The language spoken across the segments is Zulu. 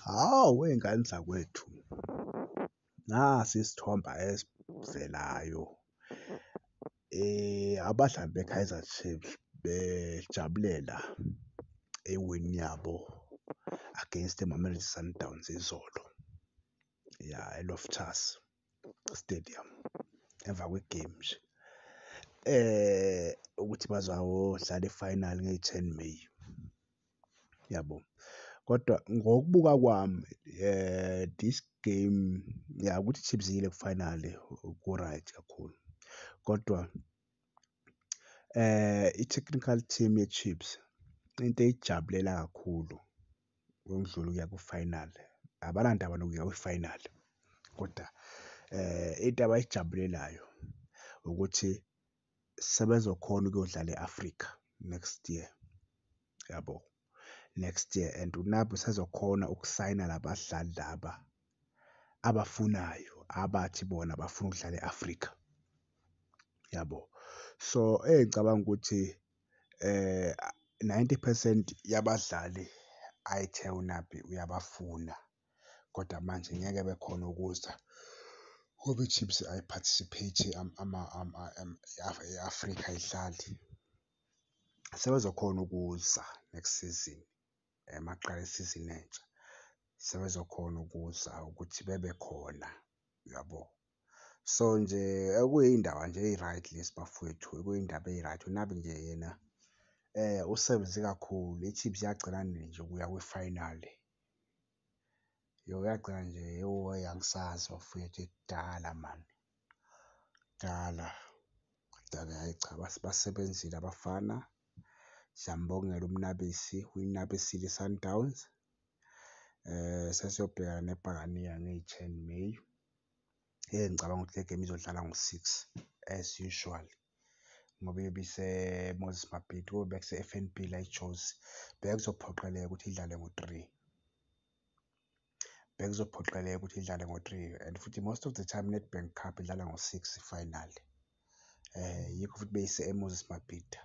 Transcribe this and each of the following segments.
Hawu wey'ngane zakwethu, nasi isithombe esivelayo abadlali beKaizer Chiefs bejabulela ewini yabo against iMamelodi Sundowns izolo, ya eLoftus. stadium emva kwegame nje eh ukuthi bazawodlala i-final ngeyi-ten May yabo kodwa ngokubuka kwami eh this game ya ukuthi Chiefs yile ku-final ku-right kakhulu kodwa eh i-technical team ye-Chiefs into eyijabulela kakhulu. ngokudlula ukuya ku-final abanandaba nokuya kwi-final kodwa eh into abayijabulelayo ukuthi sebezokhona ukuyodlala e-Africa next year yabo next year and uNabi usezokhona ukusayina labadlali laba abafunayo abathi bona bafuna ukudlala e-Africa yabo so engicabanga ukuthi Ninety percent yabadlali ayithe uNabi uyabafuna kodwa manje ngeke bekhone ukuza ngoba iChiefs ayi-participate-i e-Afrika ayidlali, sebezokhona ukuza next season. maqala isizini entsha sebezokhona ukuza ukuthi bebe khona uyabo. So nje okuyindaba nje eyi-right lezi bafwethu okuyindaba eyi-right uNabi nje yena usebenze kakhulu iChiefs yagcina nini nje ukuya kwi-final. Yagcina nje yoh angisazi bafwethu ekudala mani. kudala kodwa-ke hhayi cha basebenzile abafana. Siyambongela uMnabisi uyinabisile iSundowns sesiyobhekana neBhakaniya ngeyi-ten May. Hheyi ngicabanga ukuthi le game izodlala ngo-six as usual ngoba iyobe iseMoses Mabhida kobe bekuse-F_N_B la eJozi. Bekuzophoqeleka ukuthi idlale ngo-three. bekuzophoqeleka ukuthi idlale ngo-three and futhi most of the time i-Nedbank Cup idlala ngo-six final eh yikho futhi beyise eMoses Mabhida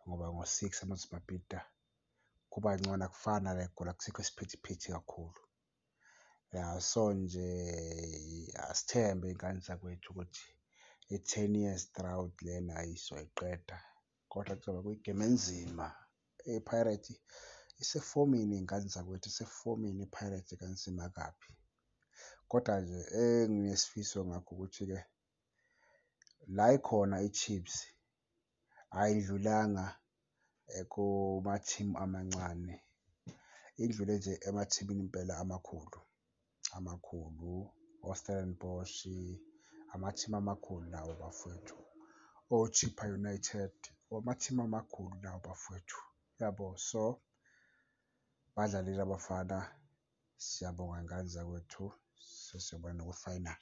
ngoba ngo-six eMoses Mabhida kuba ngcono akufani nale Gola kusekho isiphithiphithi kakhulu ya so nje asithembe ingane zakwethu ukuthi i-ten years drought lena ayisoyiqeda. Kodwa kuzoba kuyigame enzima. IPirates isefomini iy'ngane zakwethu isefomini iPirates kanzima kabi. Kodwa nje enginesifiso ngakho ukuthi-ke la ikhona iChiefs ayidlulanga eh, kumathimu amancane. Idlule nje emathimini impela amakhulu. amakhulu, oStellenbosch, amathimu amakhulu lawo bafwethu, oChippa United, amathimu amakhulu lawo bafwethu, yabo. So, badlalile abafana, siyabonga ngane zakwethu, sesiyobona noku-final.